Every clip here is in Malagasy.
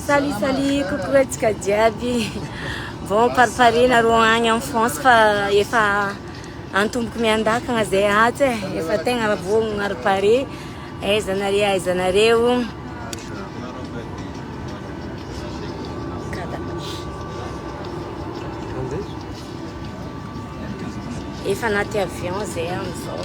Salut, salut, coucou antsika jiaby. Vao amparipariana ro agny en France fa efa antomboko miandakagna zay atsy e. Efa tegna vao maripare. Aiza nareo, aiza nareo. Efa anaty avion zay amizao.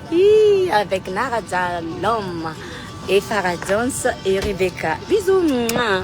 Hi avec na raja l'homme et farah jones et rebecca bisous muah.